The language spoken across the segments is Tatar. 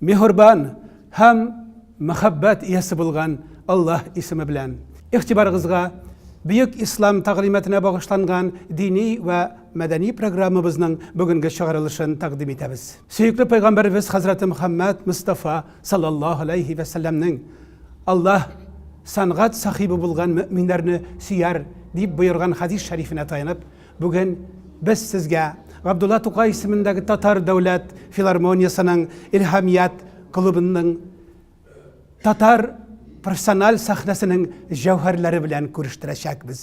Мехурбан һәм мәхәббәт иясе булган Аллаһ исеме белән. Игътибарыгызга Бөек Ислам тәгълиматына багышланган дини вә мәдәни программабызның бүгенге чыгарылышын тәкъдим итәбез. Сөекле Пәйгамбәребез хәзрәте Мөхәммәд Мостафа саллаллаһу аләйһи вә сәлләмнең Аллаһ сәнгать сахибы булган мөэминнәрне сөяр дип боерган хәдис шәрифенә таянып, Бүген без сезгә Габдулла Тукай исемендәге Татар дәүләт филармониясенең Илһамият клубының татар профессиональ сәхнәсенең җәүһәрләре белән күрештерәчәкбез.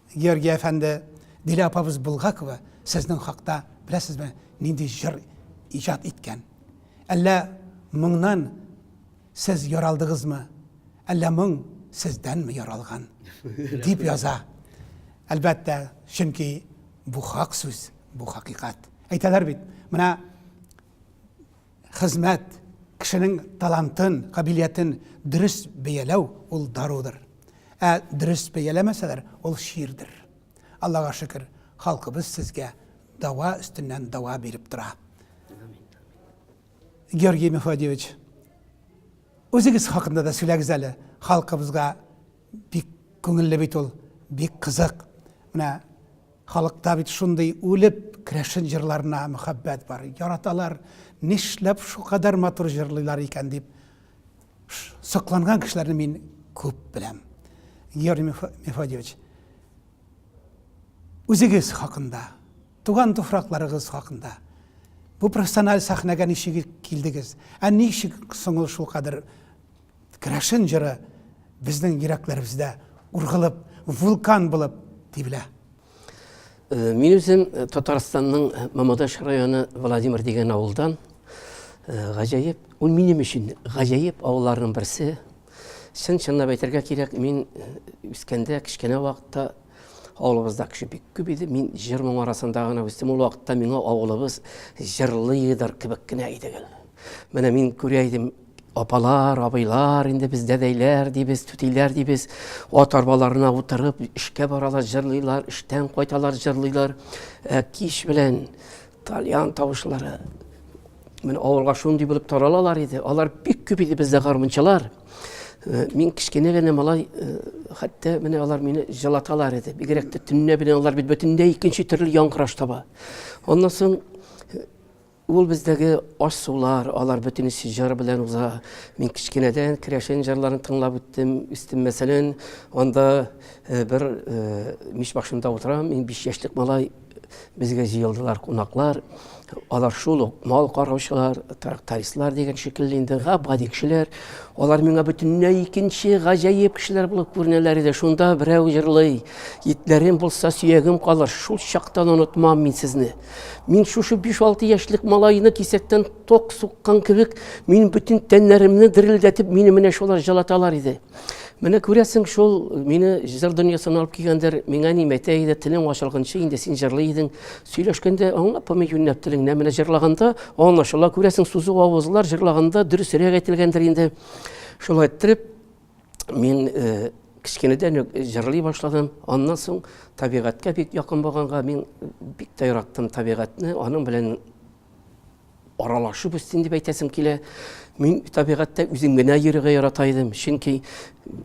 Георгий әфәнде, Дилә апабыз Булгакова сезнең хакта беләсезме, нинди җыр иҗат иткән? Әллә моңнан сез яралдыгызмы? Әллә моң сездәнме яралган? дип яза. Әлбәттә, чөнки бу хак сүз, бу хакыйкать. Әйтәләр бит, менә хезмәт, кешенең талантын, кабилиятен дөрес бәяләү ул дарудыр. Ә дөрес бәяләмәсәләр, ул чирдер. Аллага шөкер, халкыбыз сезгә дава өстеннән дава биреп тора. Георгий Мефодьевич, үзегез хакында да сөйләгез әле халкыбызга Бик күңелле бит ул, бик кызык. Менә халыкта бит шундый үлеп керәшен җырларына мөхәббәт бар. Яраталар, нишләп шукадәр матур җырлыйлар икән дип сокланган кешеләрне мин күп беләм. Георгий Мефодьевич, үзегез хакында, туган туфракларыгыз хакында, бу профессиональ сәхнәгә ничек килдегез? Ә ничек соң ул шулкадәр Керәшен җыры безнең йөрәкләребездә ургылып, вулкан булып тибелә. Э, мин үзем э, Татарстанның э, Мамадаш районы Владимир дигән авылдан. Гаҗәеп, ул минем өчен гаҗәеп авылларның берсе. Чын чынлап әйтергә кирәк, мин үскәндә кечкенә вакытта авылыбызда кеше бик күп иде. Мин җыр моң арасында гына үстем. Ул вакытта миңа авылыбыз җырлыйдыр кебек кенә иде. Менә мин күрә идем, Апалар, абыйлар, инде без дәдәйләр дибез, түтиләр дибез, ат арбаларына утырып, эшкә баралар, җырлыйлар, эштән кайталар, җырлыйлар. Ә кич белән тальян тавышлары менә авылга шундый булып таралалар иде. Алар бик күп иде бездә гармунчылар. Э, мин кечкенә генә малай, э, хәтта менә алар мине җылаталар иде. Бигрәк тә төнлә белән алар бит бөтенләй икенче төрле яңгыраш таба. Аннан соң э, Ул бездәге аш-сулар, алар бөтен эше җыр белән уза. Мин кечкенәдән керәшен җырларын тыңлап үттем, үстем. Мәсәлән, анда бер мич башында утырам, мин биш яшьлек малай, безгә җыелдылар кунаклар. Алар шул ук мал караучылар, трактористлар дигән шикелле инде габади кешеләр. Алар миңа бөтенләй икенче, гаҗәеп кешеләр булып күренәләр иде. Шунда берәү җырлый, Итләрем булса, сөягем калыр, шул чактан онытмам мин сезне. Мин шушы 5-6 яшьлек малайны кисәктән ток суккан кебек, мин бөтен тәннәремне дерелдәтеп, мине менә шулар җылаталар иде. Менә күрәсең, шул мине җыр дөньясына алып килгәндер, миңа ни мәтә иде, телең ачылганчы инде син җырлый идең. Сөйләшкәндә аңлап булмый юньләп телеңне, менә җырлаганда аңлашыла, күрәсең, сузу авызлар җырлаганда дөресрәк әйтелгәндер инде. Шулай иттереп, мин э, кечкенәдән үк җырлый башладым. Аннан соң табигатькә бик якын булганга мин бик тә яраттым табигатьне, аның белән аралашып үстем дип әйтәсем килә. Мин табигатьтә үзем генә йөрергә ярата идем, чөнки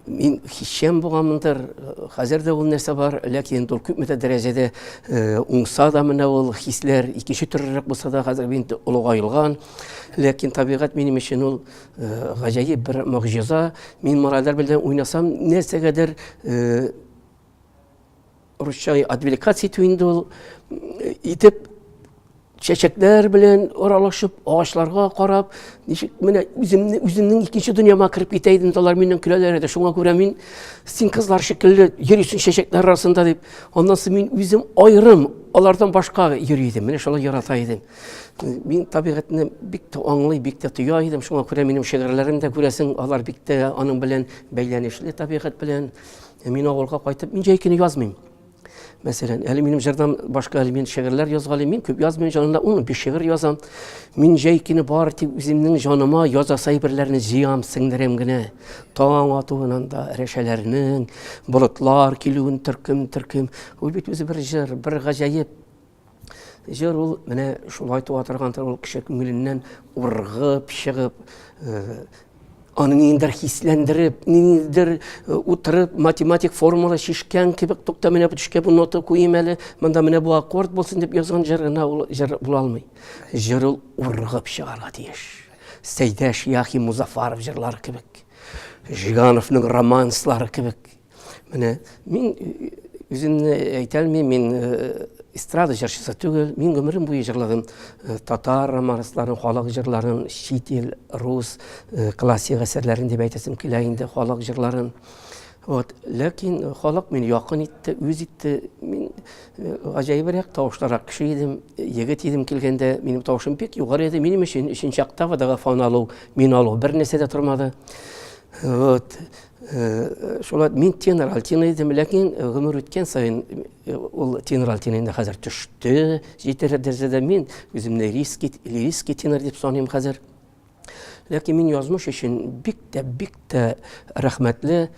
мин хисчән булганмындыр. Хәзер дә ул нәрсә бар, ләкин инде ул күпмедер дәрәҗәдә э, уңса да менә ул хисләр икенче төрлерәк булса да хәзер инде олыгаелган. Ләкин табигать минем өчен ул Гаҗәеп бер могҗиза. Мин моральләр белән уйнасам, нәрсәгәдер русча отвлекаться итү инде ул итеп чәчәкләр белән аралашып, агачларга карап, ничек менә үземне үземнең икенче дөньяма кереп китә идем, алар миннән көләләр иде. Шуңа күрә мин син кызлар шикелле йөрисең чәчәкләр арасында дип, аннан соң мин үзем аерым алардан башка йөри идем. Менә шулай ярата идем. Мин табигатьне бик тә аңлый, бик тә тоя идем. Шуңа күрә минем шигырьләрем дә күрәсең, алар бик тә аның белән бәйләнешле табигать белән. Э, мин авылга кайтып, мин җәй көне язмыйм. Мәсәлән, әле минем җырдан башка әле мин шигырьләр язгалыйм. Мин күп язмыйм, җанында 15 шигырь язам. Мин җәй көне бар тик үземнең җаныма яза сәйберләрне җыям, сеңдерәм генә. Таң атуыннан да рәшәләрнең, болытлар килүен төркем-төркем. Ул бит үзе бер җыр, бер гаҗәеп Җыр ул менә шулай туа торгандыр, ул кеше күңеленнән ургып, чыгып, аны ниндер хисләндереп, ниндер э, утырып, математик формула шишкән кебек, тукта менә бу төшкә бу нота куем әле, монда менә бу аккорд булсын дип язган җыр гына ул җыр була алмый. Җыр ул ургып чыгарга тиеш. Сәйдәш Яхи Музафаров җырлары кебек. Жигановның романслары кебек. Менә мин үземне әйтә алмыйм, мин эстрада җырчысы түгел, мин гомерем буе җырладым татар романсларын, халык җырларын, чит ил, рус классик әсәрләрен дип әйтәсем килә инде, халык җырларын. Вот, ләкин халык мине якын итте, үз итте. Мин гаҗәебрәк тавышлырак кеше идем, егет идем килгәндә, минем тавышым бик югары иде. Минем өчен өченче октавадагы фон алу, мин алу бернәрсә дә тормады. Вот. Шулай мин тенор альтина идем, ләкин гомер үткән саен ул тенор альтина инде хәзер төште, җитәрлек дәрәҗәдә мин үземне риски, лириски тенор дип саныйм хәзер. Ләкин мин язмыш өчен бик тә, бик тә рәхмәтле.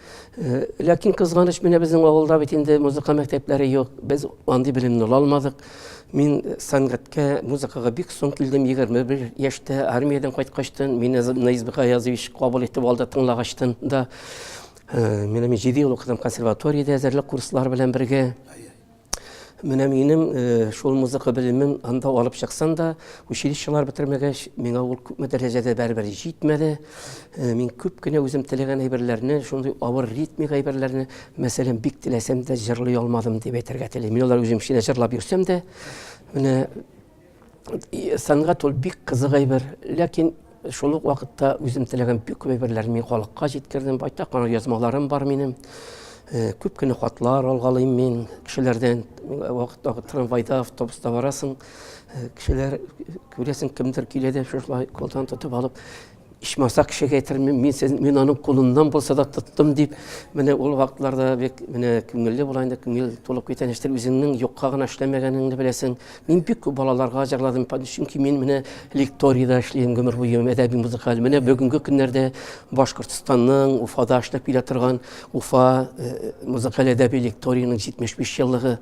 Ләкин кызганыч, менә безнең авылда бит инде музыка мәктәпләре юк, без андый белемне ала алмадык. Мин сәнгатькә, музыкага бик соң килдем, 21 яшьтә армиядән кайткачтын, мине Наизб Гаязович кабул итеп алды тыңлагачтын да. Э, менә мин 7 ел укыдым консерваториядә әзерлек курслары белән бергә. Менә минем э, шул музыка белемен анда алып чыксам да, училищелар бетермәгәч, миңа ул күпме дәрәҗәдә бәрбер җитмәде. Э, мин күп кенә үзем теләгән әйберләрне шундый авыр ритмик әйберләрне мәсәлән бик теләсәм дә җырлый алмадым дип әйтергә телим мин алар үзем эченә җырлап йөрсәм дә менә сәнгать ул бик кызык әйбер ләкин шул ук вакытта үзем теләгән бик күп әйберләрне мин халыкка җиткердем байтак кына язмаларым бар минем э, күп кенә хатлар алгалыйм мин кешеләрдән вакыт вакыт трамвайда автобуста барасың Э, кешеләр күрәсең кемдер килә дә шулай кулдан тотып алып ичмаса кешегә әйтермен мин сез мин аның кулыннан булса да тоттым дип менә ул вакытларда бик менә күңелле була инде күңел тулып китә ништер үзеңнең юкка гына эшләмәгәнеңне беләсең мин бик күп балаларга җырладым чөнки мин менә лекторида эшлим гомер буе әдәби музыкаль менә бүгенге көннәрдә башкортстанның уфада эшләп килә торган уфа э, музыкаль әдәби лекториянең җитмеш биш еллыгы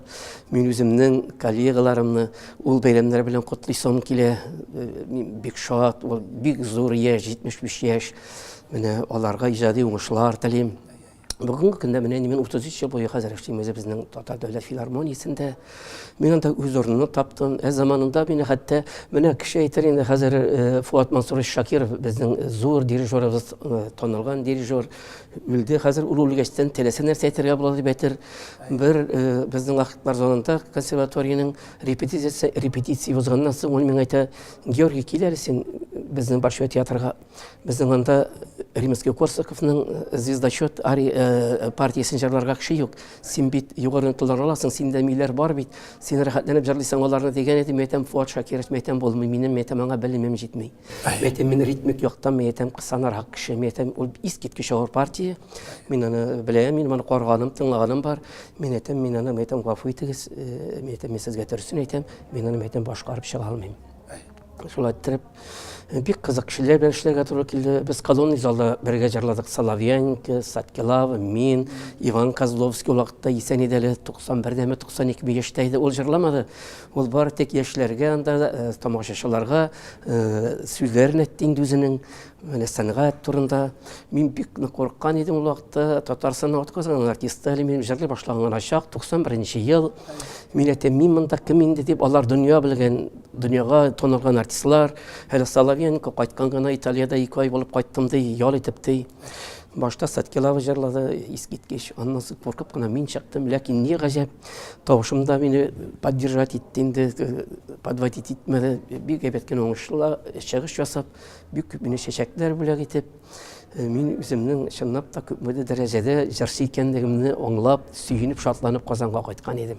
Мин үземнең коллегаларымны ул бәйрәмнәр белән котлыйсым килә. Э, мин бик шат, ул бик зур яшь, 75 яшь. Менә аларга иҗади уңышлар телим. Бүгенге көндә менә мин 33 ел буе хәзер эшлим үзе безнең Татар дәүләт филармониясендә. Мин анда үз урынымны таптым. Ә заманында мин хәтта менә кеше әйтер инде хәзер э, Фуат Мансурович Шакиров безнең зур дирижерыбыз, э, танылган дирижер. Үлде, хәзер ул үлгәчтән теләсә нәрсә әйтергә була дип әйтер. Бер э, безнең вакытлар залында консерваториянең репетиция репетиция узганнан соң ул миңа әйтә, Георгий, кил әле син безнең Большой театрга. Безнең анда Римский Корсаковның э, звездочет ари э, партиясен җырларга кеше юк. Син бит югары ноталар аласың, синдә миләр бар бит. Син рәхәтләнеп җырлыйсың аларны дигән идем, әйтәм, Фуат Шакиров мәйтәм булмый, минем мәйтәм аңа белемем җитми. Мен әйтәм, мин ритмик яктан, мен әйтәм, кысанарак кеше, мен әйтәм, ул искиткеч авыр партия, мин аны беләм, мин аны карганым, тыңлаганым бар, мин әйтәм, мин аны, мин әйтәм, гафу итегез, э, мин әйтәм, мин сезгә дөресен әйтәм, мин аны, мин әйтәм, башкарып чыга алмыйм. Шулай иттереп, э, бик кызык кешеләр белән эшләргә туры килде. Без колонный залда бергә җырладык Соловьяненко, Саткилава, мин, Иван Козловский вакытта исән иде әле, 91 дәме, 92 яшьтә иде, ул җырламады. Ул бары тик яшьләргә анда тамашачыларга сүзләрен әйтте инде үзенең менә сәнгать турында. Мин бик курыккан идем ул вакытта. Татарстанның атказанган артисты әле минем җырлый башлаган гына чак, 91 ел. Мин әйтәм, мин монда кем инде дип, алар дөнья белгән, дөньяга танылган артистлар. Әле Соловьенко кайткан гына Италиядә ике ай булып кайттым ди, ял итеп ди. Башта Садкилава җырлады, искиткеч. Аннан соң куркып кына мин чыктым. Ләкин ни гаҗәп, тавышым да мине поддержать итте инде, подводить итмәде. Бик әйбәт кенә уңышлы чыгыш ясап, бик күп мине чәчәкләр бүләк итеп, мин үземнең чынлап та күпмедер дәрәҗәдә җырчы икәнлегемне аңлап, сөенеп, шатланып Казанга кайткан идем.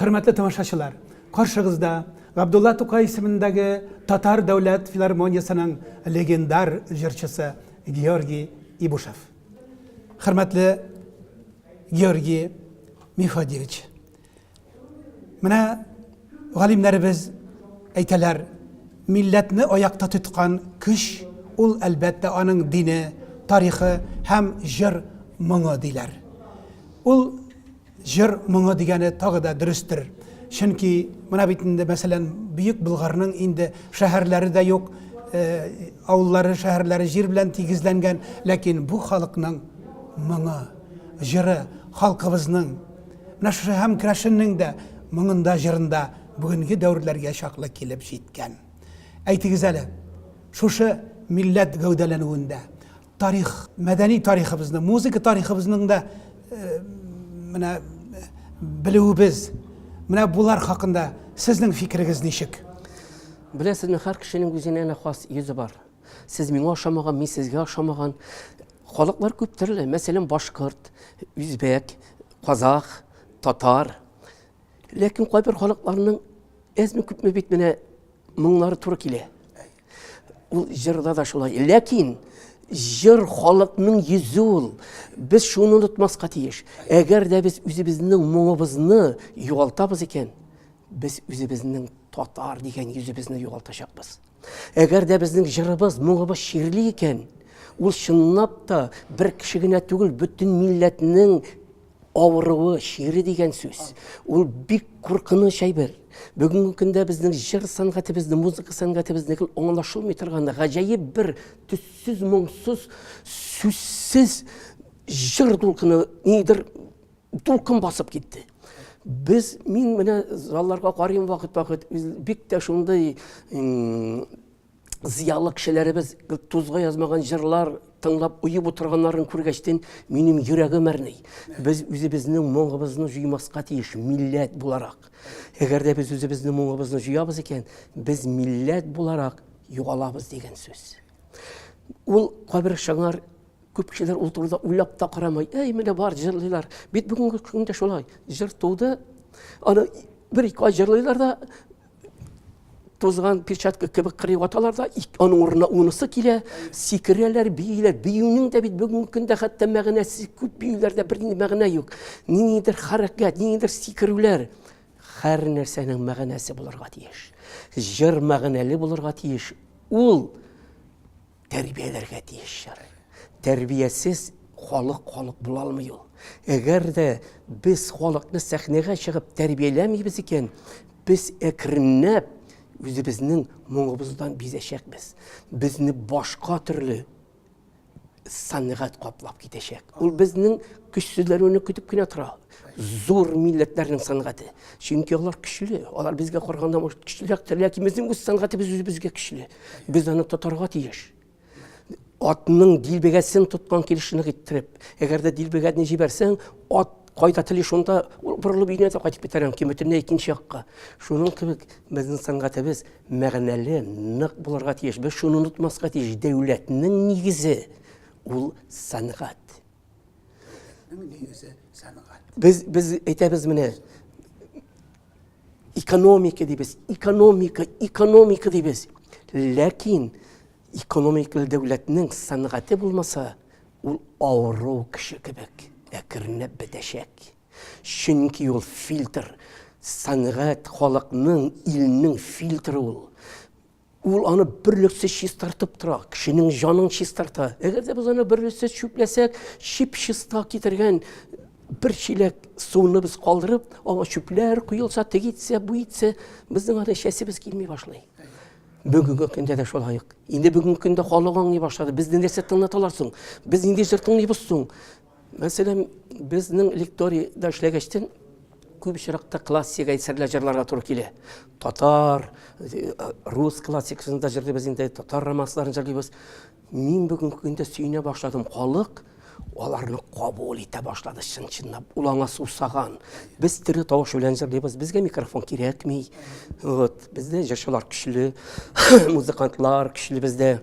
Хөрмәтле тамашачылар, каршыгызда Габдулла Тукай исемендәге Татар дәүләт филармониясенең легендар җырчысы Георгий Ибушев. Хөрмәтле Георгий Мефодьевич, Менә галимнәребез әйтәләр, милләтне аякта тоткан көч ул әлбәттә аның дине, тарихы һәм җыр моңы диләр. Ул җыр моңы дигәне тагы да дөрестер. Чөнки менә бит инде мәсәлән Бөек Булгарның инде шәһәрләре дә юк, э, авыллары, шәһәрләре җир белән тигезләнгән, ләкин бу халыкның моңы, җыры, халкыбызның Менә шушы һәм Крашенның да моңында, җырында бүгенге дәверләргә чаклы килеп җиткән. Әйтегез әле, шушы милләт гәүдәләнүендә тарих, мәдәни тарихыбызны, музыка тарихыбызның да менә белүебез, менә булар хакында сезнең фикерегез ничек? Беләсезме, һәр кешенең үзенә хас йөзе бар. Сез миңа ошамаган, мин сезгә ошамаган. Халыклар күп төрле, мәсәлән, башкорт, үзбәк, казах, татар. Ләкин кайбер халыкларның әзме күпме бит менә моңнары туры килә. Ул җырда да шулай. Ләкин җыр халыкның йөзе ул. Без шуны онытмаска тиеш. Әгәр дә без үзебезнең моңыбызны югалтабыз икән, без үзебезнең татар дигән йөзебезне югалтачакбыз. Әгәр дә безнең җырыбыз, моңыбыз чирли икән, ул чынлап та бер кеше генә түгел, бөтен милләтнең авыруы, чире дигән сүз. Ул бик куркыныч әйбер. Бүгенге көндә безнең җыр сәнгатебезне, музыка сәнгатебезне гел аңлашылмый торган гаҗәеп бер төссез, моңсыз, сүзсез җыр дулкыны нидер дулкын басып китте без мин менә залларга карыйм вакыт вакыт бик тә шундый зыялы кешеләребез тузга язмаган җырлар тыңлап уеп утырганнарын күргәчтен минем йөрәгем әрни без үзебезнең моңыбызны җуймаска тиеш милләт буларак әгәр дә без үзебезнең моңыбызны җуябыз икән без милләт буларак югалабыз дигән сүз ул кабер шыңар Күп кешеләр ул турыда уйлап та карамый. Әй, менә бар җырлыйлар. Бит бүгенге көндә шулай. Җыр туды. Аны бер ике ай җырлыйлар да тузган перчатка кебек кырый ваталар да, аның урынына унысы килә, сикерәләр, бииләр. Биюнең дә бит бүгенге көндә хәтта мәгънәсе күп биюләрдә бер мәгънә юк. Ниндидер хәрәкәт, ниндидер сикерүләр һәр нәрсәнең мәгънәсе булырга тиеш. Җыр мәгънәле булырга тиеш. Ул тәрбияләргә тиешчәр. Тәрбиясез халык халык була алмый ул. Әгәр дә без халыкны сәхнәгә чыгып тәрбияләмибез икән, без әкренләп үзебезнең моңыбыздан бизәчәкбез. Безне башка төрле сәнгать каплап китәчәк. Ул безнең көчсезләнүне көтеп кенә тора. Сәләт. Зур милләтләрнең сәнгате. Чөнки алар көчле. Алар безгә караганда может көчлерәктер, ләкин безнең үз сәнгатебез үзебезгә көчле. Без аны тотарга тиеш. Атның дилбегәсен тоткан килешне китереп, әгәр дә дилбегәне җибәрсәң, ат кайда тели шунда ул борылып өенә дә кайтып китәр мөмкин бөтенләй икенче якка шуның кебек безнең сәнгатебез мәгънәле нык булырга тиеш без шуны онытмаска тиеш дәүләтнең нигезе ул сәнгать Без без әйтәбез менә экономика дибез, экономика, экономика дибез. Ләкин экономикалы дәүләтнең сәнгате булмаса, ул авыру кеше кебек әкренләп бетәчәк. Чөнки ул фильтр, сәнгать халыкның, илнең фильтры ул. Ул аны берлексез чистартып тора, кешенең җанын чистарта. Әгәр дә без аны берлексез чүпләсәк, чип чиста китергән бер чиләк суны без калдырып, аңа чүпләр куелса, теге итсә, бу итсә, безнең аны чәсебез килми башлый. Бүгенге көндә дә шулай ук. Инде бүгенге көндә халык аңлый башлады. Безне нәрсә тыңлаталар соң? Без нинди җыр тыңлыйбыз соң? Мәсәлән, безнең лекторийда эшләгәчтен күп очракта классик әсәрләр җырларга туры килә. Татар, э, рус классикасын да җырлыйбыз инде, татар романсларын җырлыйбыз. Мин бүген көндә сөенә башладым. Халык аларны кабул итә башлады чын-чынлап. Ул аңа сусаган. Без тере тавыш белән җырлыйбыз. Безгә микрофон кирәкми. Вот, бездә җырчылар көчле, музыкантлар көчле бездә.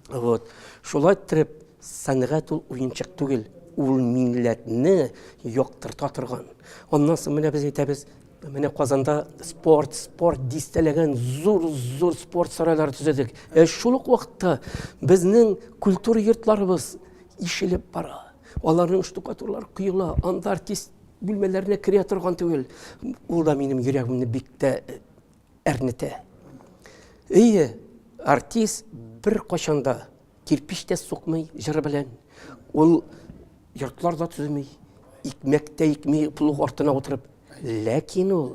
Вот. Шулай итеп Сәнгать ул уенчык түгел, ул милләтне яктырта торган. Аннан соң менә без әйтәбез, Менә Казанда спорт, спорт дистәләгән зур-зур спорт сарайлары төзедек. Ә шул ук вакытта безнең культура йортларыбыз ишелеп бара. Аларның штукатурлары коела, анда артист бүлмәләренә керә торган түгел. Ул да минем йөрәгемне бик тә э, әрнетә. Әйе, артист бер качанда кирпич тә сукмый җыры белән ул йортлар да төземи икмәк тә икми плуг артына утырып ләкин ул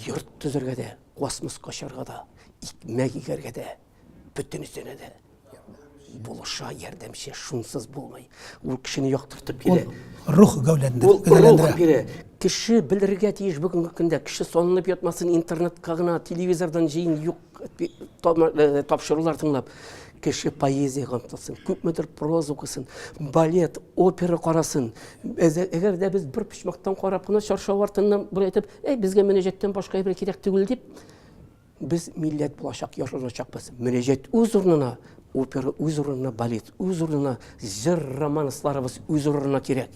йорт төзергә дә космоска очарга да икмәк игәргә дә бөтенесенә дә булыша ярдәмче шунсыз булмый ул кешене яктыртып бирә рух гәүләндерә кеше белергә тиеш бүгенге көндә кеше салынып ятмасын интернетка гына телевизордан җыен юк тапшырулар тыңлап кеше поэзияга омтылсын күпмедер проза укысын балет опера карасын әгәр дә без бер почмактан карап кына чаршау артыннан бер әйтеп әй безгә мөнәҗәттән башка әйбер кирәк түгел дип без милләт булачак яшәячәкбез мөнәҗәт үз урынына опера үз урынына балет үз урынына җыр романсларыбыз үз урынына кирәк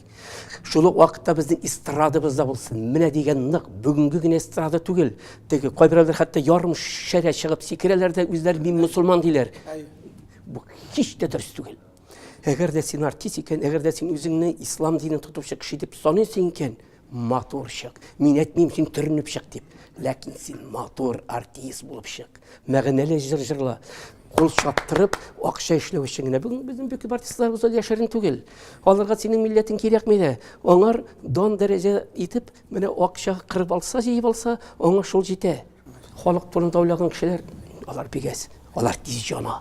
Шул ук вакытта безнең эстрадабыз да булсын. Менә дигән нык бүгенге генә эстрада түгел. Теге кайберләр хәтта ярым шәрә чыгып сикерәләр дә үзләр мин мусулман диләр. Бу һич тә дөрес түгел. Әгәр дә син артист икән, әгәр дә син үзеңне ислам динен тотучы кеше дип саныйсың икән, матур чык. Мин әйтмим син төренеп чык дип. Ләкин син матур артист булып чык. Мәгънәле җыр җырла. Кул чаптырып, акча эшләү өчен генә. Бүген безнең бөек артистларыбыз да яшерен түгел. Аларга синең милләтең кирәкми дә. Аңар дан дәрәҗә итеп, менә акча кырып алса, җыеп алса, аңа шул җитә. Халык турында уйлаган кешеләр, алар бигәс, алар тиз җана.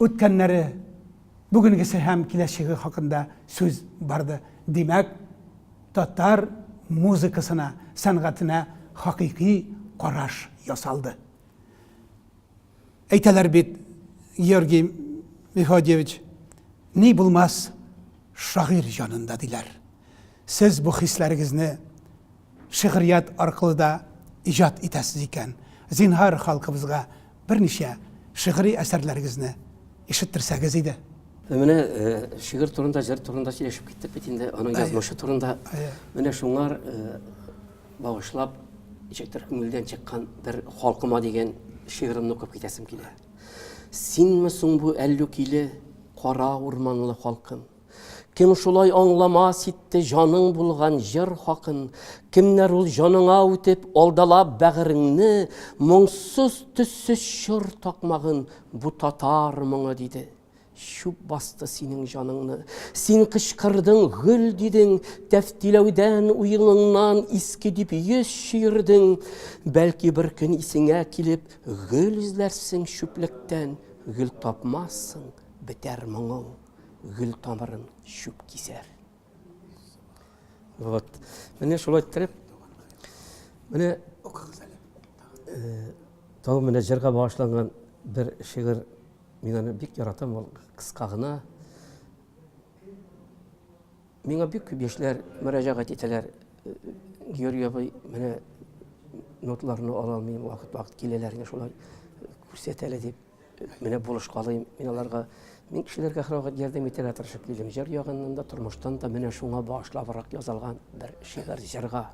Үткәннәре, бүгенгесе һәм киләчәге хакында сүз барды. Димәк, татар музыкасына, сәнгатенә хакыйкый караш ясалды. Әйтәләр бит, Георгий Мефодьевич, ни булмас шагыйрь җанында, диләр. Сез бу хисләрегезне. Шигърият аркылы да иҗат итәсез икән, зинһар, халкыбызга берничә шигъри әсәрләрегезне ишеттерсәгез иде. Менә шигырь турында, җыр турында сөйләшеп киттек бит инде, аның язмышы турында. Менә шуңар багышлап, ничектер күңелдән чыккан бер Халкыма дигән шигыремне укып китәсем килә. Синме соң бу әллүкиле кара урманлы халкым? Кем шулай аңламас итте җаның булган җыр хакын, Кемнәр ул җаныңа үтеп, алдалап бәгыреңне, Моңсыз, төссез чор такмагын бу татар моңы диде. Чүп басты синең җаныңны, син кычкырдың, гөл дидең, Тәфтиләүдән, уеныңнан иске дип йөз чөердең. Бәлки бер көн исеңә килеп, гөл эзләрсең чүплектән, Гөл тапмассың, бетәр моңың. гөл тамырын чүп кисәр. Вот. Менә шулай иттереп, менә тагын менә җырга багышланган бер шигырь мин аны бик яратам ул кыска гына миңа бик күп яшьләр мөрәҗәгать итәләр георгий абый менә ноталарны ала алмыйм вакыт вакыт киләләр шулай күрсәт әле дип Менә булышкалыйм мин аларга. Мин кешеләргә һәрвакыт ярдәм итәргә тырышып килдем. Җыр ягыннан да, тормыштан да менә шуңа багышлабрак язылган бер шигырь җырга.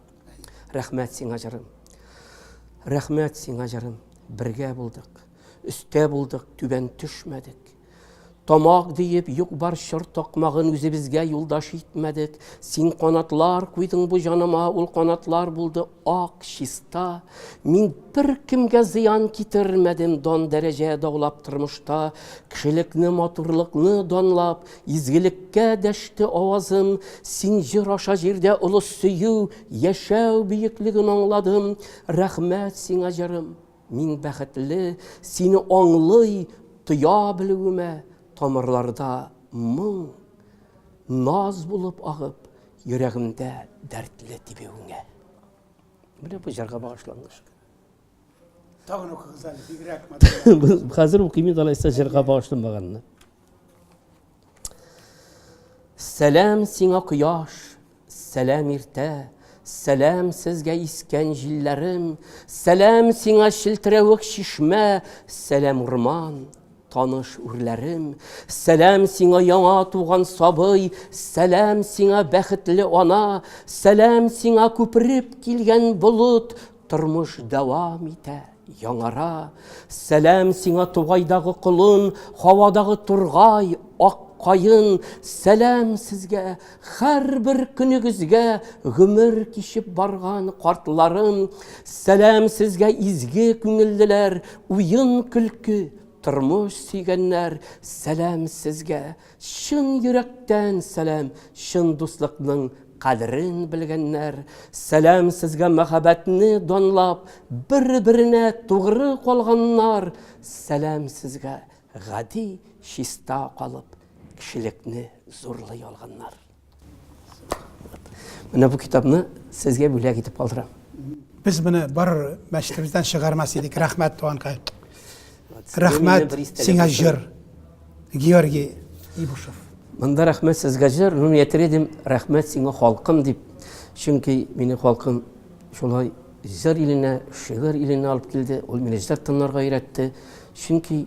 Рәхмәт сиңа җырым. Рәхмәт сиңа җырым. Бергә булдык. Өстә булдык, түбән төшмәдек. Тамак диеп юк-бар чор токмагын үзебезгә юлдаш итмәдек. Син канатлар куйдың бу җаныма, ул канатлар булды ак, чиста. Мин бер кемгә зыян китермәдем, дан дәрәҗә даулап тормышта, кешелекне, матурлыкны данлап, изгелеккә дәште авазым. Син җыр аша җирдә олы сөю, яшәү бөеклеген аңладым. Рәхмәт сиңа, җырым! Мин бәхетле, сине аңлый, тоя белүемә, тамырларда моң, наз булып агып, йөрәгемдә дәртле тибүеңә. Менә бу җырга багышлангыч. Тагын укыгыз әле, бигрәк матур. Хәзер укыйм инде алайса җырга багышланмаганны. Сәлам сиңа кояш, сәлам иртә, Сәлам сезгә искән җилләрем, Сәлам сиңа челтерәвек чишмә, Сәлам урман, таныш үрләрем, Сәлам сиңа яңа туган сабый, Сәлам сиңа бәхетле ана, Сәлам сиңа күпереп килгән болыт, Тормыш дәвам итә, яңара. Сәлам сиңа тугайдагы колын, һавадагы тургай, ак каен, сәлам сезгә, һәрбер көнегезгә гомер кичеп барган картларым, сәлам сезгә изге күңеллеләр, уен көлке, тормыш сөйгәннәр, сәлам сезгә, Чын йөрәктән сәлам, чын дуслыкның кадерен белгәннәр, сәлам сезгә мәхәббәтне данлап, бер-беренә тугры калганнар, сәлам сезгә гади, чиста калып, кешелекне зурлый алганнар. Менә бу китапны сезгә бүләк итеп калдырам. Без моны бар мәчетебездән чыгармас идек. Рәхмәт, туганкай. Рәхмәт, сиңа җыр. Георгий Ибушев. Монда рәхмәт сезгә җыр, ну әйтер идем, рәхмәт сиңа халкым дип. Чөнки мине халкым шулай җыр иленә, шигырь иленә алып килде, ул мине җыр тыңларга өйрәтте. Чөнки